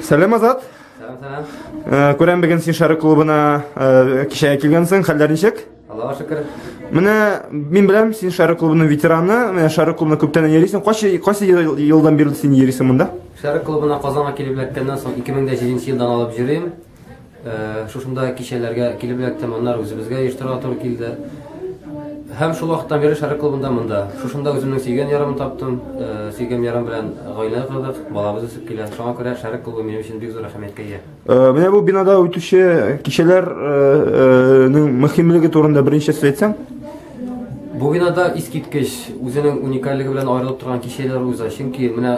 Сәлем Азат. Сәлам, сәлам. Э, Күрәм бүген син Шәрык клубына э, кичәгә килгәнсең. Хәлләр ничек? Аллаһу шөкер. Менә мин беләм, син Шары клубының ветераны. Менә Шары клубына күптән йөрисең. Кайсы кайсы елдан бирле син йөрисең монда? Шары клубына Казанга килеп эләккәннән соң 2007 елдан алып йөрим. Э, шушында кичәләргә килеп эләктем, аннары үзебезгә оештырырга туры килде. Һәм шул вакыттан бирле Шары клубында монда. Шушында үземнең сөйгән ярымны таптым. Э, сөйгән ярым белән гаилә кордык, балабыз үсеп килә. Шуңа күрә Шары клубы минем өчен бик зур әһәмияткә ия. Менә бу бинада үтүче кичәләрнең мөһимлеге турында беренче сүз әйтсәң. Бу бинада искиткеч үзенең уникальлеге белән аерылып торган кичәләр уза. Чөнки менә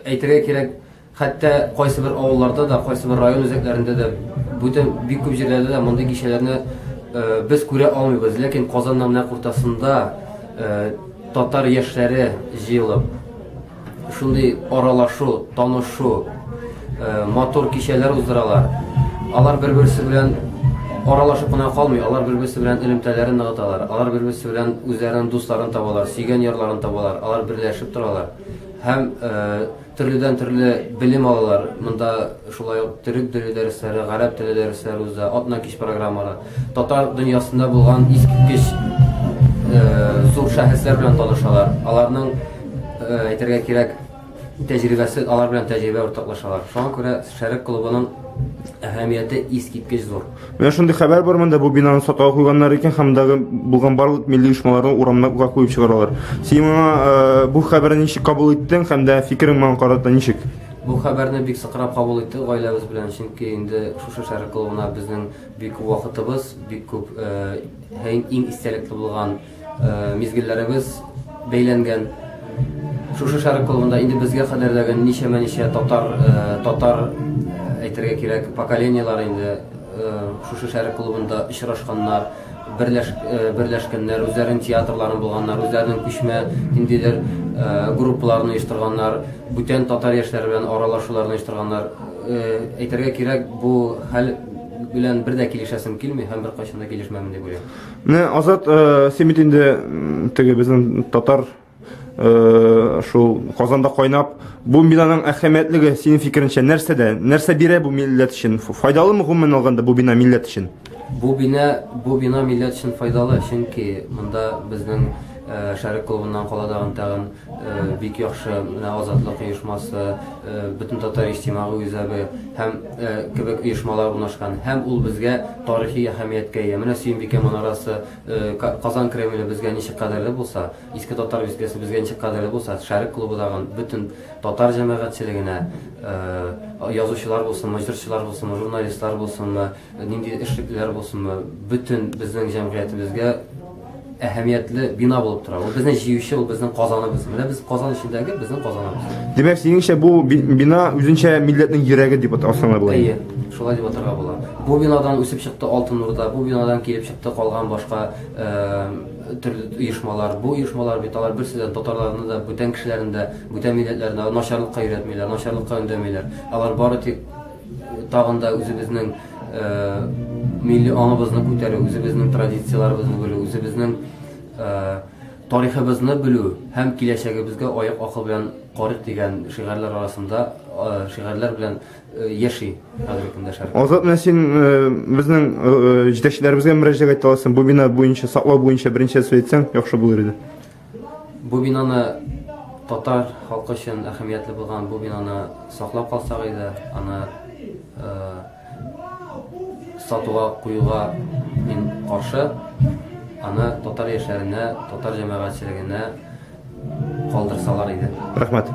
әйтергә кирәк, хәтта кайсы бер авылларда да, кайсы бер район үзәкләрендә дә, бүтән бик күп җирләрдә дә мондый кичәләрне без күрә алмыйбыз. Ләкин Казанның менә уртасында татар яшьләре җыелып, Шундый аралашу, танышу, э, матур кичәләр уздыралар. Алар бер-берсе белән аралашып кына калмый, алар бер-берсе белән элемтәләрен ныгыталар, алар бер-берсе белән үзләренең дусларын табалар, сөйгән ярларын табалар, алар берләшеп торалар һәм э, төрледән төрле белем алалар. Монда шулай ук төрек теле дәресләре, гарәп теле дәресләре уза, атна кич программалары. Татар дөньясында булган искиткеч зур шәхесләр белән танышалар. Аларның әйтергә кирәк тәҗрибәсе, алар белән тәҗрибә уртаклашалар. Шуңа күрә Шәрык клубының әһәмияте искиткеч зур. Менә шундый хәбәр бар монда, бу бинаны сатуга куйганнар икән һәм дагы булган барлык милли оешмаларны урамнарга куеп чыгаралар. Син моңа бу хәбәрне ничек кабул иттең һәм дә фикерең моңа карата ничек? Бу хәбәрне бик сыкрап кабул иттек гаиләбез белән, чөнки инде шушы Шәрык клубына безнең Бик күп вакытыбыз, бик күп һәм иң истәлекле булган мизгелләребез бәйләнгән. Шушы шәрык клубында инде безгә кадәр дә ничәмә ничә татар татар әйтергә кирәк поколениеләр инде шушы шәрык клубында очрашканнар, берләш берләшкәннәр, үзләренең театрларын булганнар, үзләренең күчмә ниндидер группаларын оештырганнар, бүтән татар яшьләре белән аралашуларны оештырганнар. Әйтергә кирәк, бу хәл белән бер дә килешәсем килми һәм беркайчан да килешмәмен дип уйлыйм. Менә Азат, э, син бит инде теге безнең татар э, шул Казанда кайнап, бу бинаның әһәмиятлеге синең фикереңчә нәрсәдә? Нәрсә бирә бу милләт өчен? Файдалымы гомумән алганда бу бина милләт өчен? Бу бина бу бина милләт өчен файдалы, чөнки монда безнең э, шәрык клубыннан каладагын тагын Бик яхшы, менә Азатлык оешмасы, бөтен татар иҗтимагы үзәге һәм кебек оешмалар урнашкан. Һәм ул безгә тарихи әһәмияткә ия. Менә Сөембикә манарасы, Казан Кремле безгә ничек кадерле булса, Иске Татар бистәсе безгә ничек кадерле булса, Шәрык клубы тагын бөтен татар җәмәгатьчелегенә, язучылар булсынмы, җырчылар булсынмы, журналистлар булсынмы, Нинди эшлеклеләр булсынмы, бөтен безнең җәмгыятебезгә әһәмиятле бина булып тора. Ул безне җиюче, ул безнең казаныбыз. Менә без казан эчендәге безнең казаныбыз. Димәк, синеңчә бу би- бина үзенчә милләтнең йөрәге дип атасыңа була. Әйе, шулай дип атарга була. Бу бинадан үсеп чыкты Алтын Урда, бу бинадан килеп чыкты калган башка э, төрле оешмалар. Бу оешмалар бит алар берсе дә татарларны да, бүтән кешеләрне дә, бүтән милләтләрне дә начарлыкка өйрәтмиләр, начарлыкка өндәмиләр. Алар бары тик Тагын да үзебезнең милли аңыбызны күтәрү, үзебезнең традицияләребезне белү, үзебезнең тарихыбызны белү һәм киләчәгебезгә аяк акыл белән карыйк дигән шигарләр арасында шигарләр белән яши хәзерге көндә шәһәр. Азат менә син безнең җитәкчеләребезгә мөрәҗәгать итәсең. Бу бина буенча, саклау буенча беренчә сүз әйтсәң, яхшы булыр иде. Бу бинаны татар халкы өчен әһәмиятле булган бу бинаны саклап калсак иде, аны э, сатуга куюга мин каршы. Аны татар яшьләренә, татар җәмәгатьчелегенә калдырсалар иде. Рәхмәт.